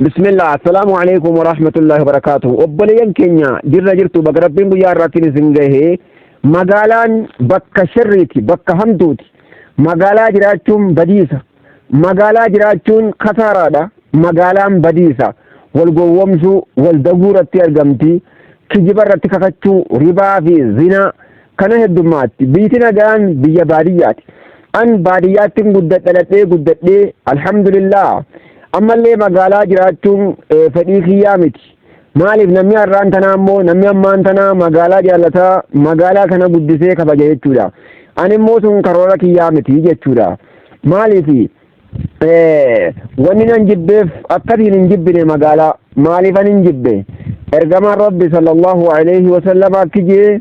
Bismillah assalaamu alaikum wa rahmatullahi wa barakaatuhu obboleeyyan keenya jirra jirtu baga rabbiin guyyaa irraattiin isin gahee magaalaan bakka sharriiti bakka hamtuuti magaalaa jiraachuun badiisa magaalaa jiraachuun kasaaraadha magaalaan badiisa wal gowwomsuu wal daguu irratti argamti kijiba irratti kakachuu ribaa fi zinaa Kana heddummaatti biyti nagaan biyya baadiyyaati. An baadiyyaattin gudda dhaladhee guddadhee alhamdulillah ammallee magaalaa jiraachuun eh, fedhii kiyyaa miti. Maaliif namni har'aan tanaa immoo namni ammaan tanaa magaalaa jaallata magaalaa kana guddisee kabaja jechuudha. An immoo sun karoora kiyyaa miti jechuudha. Maaliif eh, wanni nan jibbeef akkatiin hin jibbine magaalaa maaliif an hin jibbe ergamaan rabbi sallallahu alaihi wasallam akki jee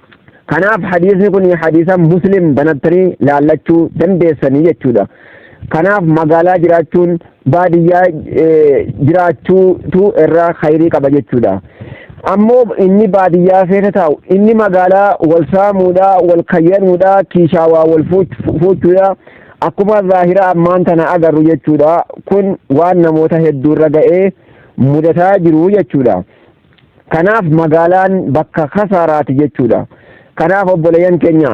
Kanaaf hadiisni kun hadiisa muslim banattanii laallachuu dandeessanii jechuudha. Kanaaf magaalaa jiraachuun baadiyyaa jiraachuutu irra khayrii qaba jechuudha. Ammoo inni baadiyyaa keessa taa'u inni magaalaa wal saamuudha, wal kayyanuudha, kiishaa waa wal fuuchuudha. Akkuma zaahira ammaan tana agarru jechuudha. Kun waan namoota hedduurra ga'ee mudataa jiru jechuudha. Kanaaf magaalaan bakka kasaaraati jechuudha. Kanaaf obboleeyyan keenya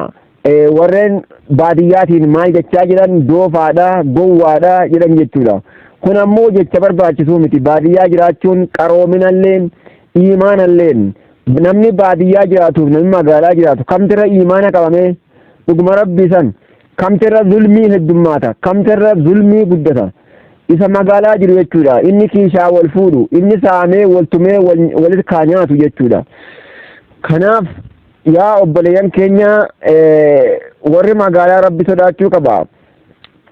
warreen baadiyyaatiin maal jechaa jiran doofaadha, gowwaadha jedhan jechuudha. Kun ammoo jecha barbaachisuu miti. Baadiyyaa jiraachuun qaroominallee, iimaanallee namni baadiyyaa jiraatuuf namni magaalaa jiraatu kamtirra iimaana qabamee dhuguma rabbii san Kamterra zulmii heddummaata. Kamterra zulmii guddata. Isa magaalaa jiru jechuudha. Inni kiishaa wal fuudhu. Inni saamee wal tumee walit kaa nyaatu jechuudha. Kanaaf yaa obboleeyyan keenya warri magaalaa rabbi sodaachuu qaba.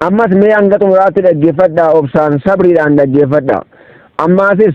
Ammas mee hanga xumuraatti dhaggeeffadha obsaan sabriidhaan dhaggeeffadha. Ammaasis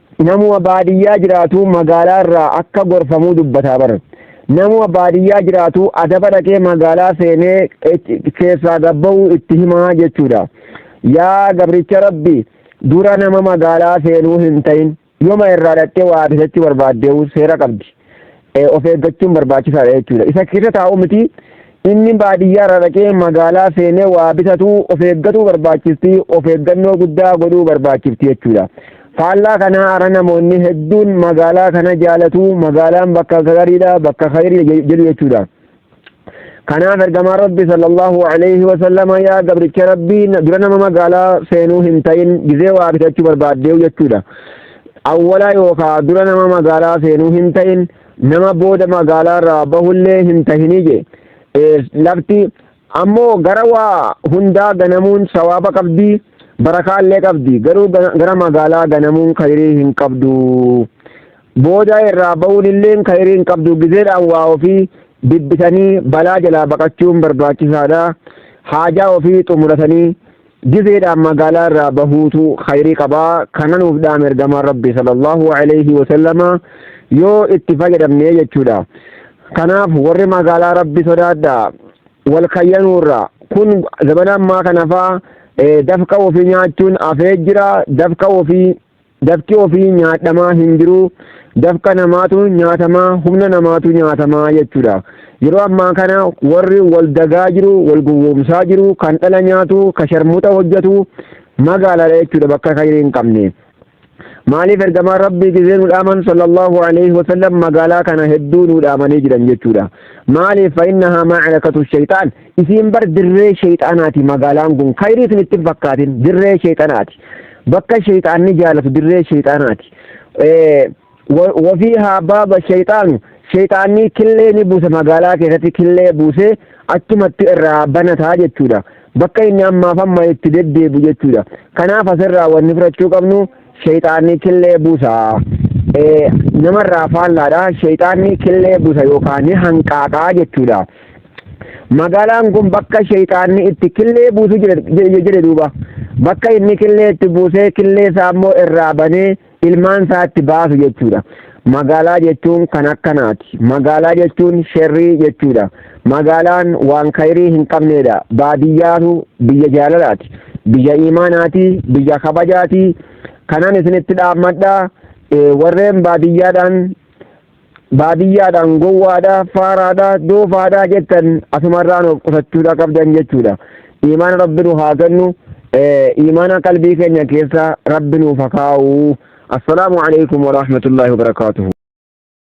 Namuma baadiyyaa jiraatu magaalaa irraa akka gorfamuu dubbataa bar. Namuma baadiyyaa jiraatu adaba dhaqee magaalaa seenee keessaa gabba'uu itti himaa jechuudha. Yaa gabricha rabbi dura nama magaalaa seenuu hin ta'in. Yoma irraa dhaqxee waa bitachuu barbaaddeewu seera qabdi. of eeggachuun barbaachisaadha jechuudha. Isa keessa taa'u miti inni baadiyyaa irraa dhaqee magaalaa seenee waa bitatu of eeggatuu barbaachisti of eeggannoo guddaa godhuu barbaachifti jechuudha. Faallaa kanaa ara namoonni hedduun magaalaa kana jaalatu magaalaan bakka gariidha bakka kayriidha jedhu jechuudha. kanaaf ergamaa rabbi sallallahu alayhi wasallama yaa gabricha rabbii dura nama magaalaa seenuu hin ta'in gizee waa bitachuu barbaaddeewu jechuudha awwalaa yookaa dura nama magaalaa seenuu hin ta'in nama booda magaalaa irraa bahullee hin tahinii je lafti ammoo gara waa hundaa ganamuun sawaaba qabdi barakaallee qabdi garuu gara magaalaa ganamuun kayrii hin qabdu Boodaa irraa ba'uun illeen kayrii hin qabdu gizeedhaan waa ofii bibbitanii balaa jalaa baqachuun barbaachisaadha. Haajaa ofii xumuratanii gizeedhaan magaalaa irraa bahuutu kayrii qaba. Kana nuuf dhaame ergamaan Rabbii sallallahu alayhi wa sallama yoo itti fayyadamne jechuudha. Kanaaf warri magaalaa Rabbi sodaadha wal kayyanuurra kun zabana ammaa kanafaa dafqa ofii nyaachuun afee jira dafqa ofii Dafqi ofii nyaadhamaa hin jiruu dafqa namaatu nyaatamaa humna namaatu nyaatamaa jechuudha. Yeroo ammaa kana warri wal dagaa jiru wal gowwoomsaa jiru kan dhala nyaatu kan sharmuxa hojjetu magaalaadha jechuudha bakka kayrii hin qabne. Maaliif ergamaan rabbii gizee nu dhaaman sallallahu alaihi wasallam magaalaa kana hedduu nu dhaamanii jiran jechuudha. Maaliif fa innahaa maacarakatu shayxaan Isiin bar dirree sheyxaanaati magaalaan kun kayrii isinitti hin fakkaatin dirree sheyxanaati bakka sheyxaanni jaalatu dirree sheyxaanaati wafii haa baaba sheyxaanu sheyxaanni killee ni buusa magaalaa keessatti killee buusee achumatti irraa banataa jechuudha bakka inni ammaaf amma itti deddeebu jechuudha kanaaf asirraa wanni fudhachuu qabnu sheyxaanni killee buusa namarraa faallaadha sheyxaanni killee buusa yookaan hanqaaqaa jechuudha. magaalaan kun bakka sheeyxaanni itti killee buusu jedhe duuba bakka inni killee itti buusee killee isaa immoo irraa banee ilmaan isaa itti baasu jechuudha. Magaalaa jechuun kan akkanaati. Magaalaa jechuun sherrii jechuudha. Magaalaan waan kayrii hin qabneedha. Baadiyyaatu biyya jaalalaati. Biyya imaanaati. Biyya kabajaati. Kanan isinitti dhaammadha. Warreen baadiyyaadhaan baadiyyaadhaan gowwaadha faaraadha doofaadha jettan asumarraan of qusachuudha qabdan jechuudha iimaana rabbi nu haa kennu iimaana qalbii keenya keessa rabbi nuuf haa kaa'u assalaamu alaikum warahmatullaahi wabarakaatuhu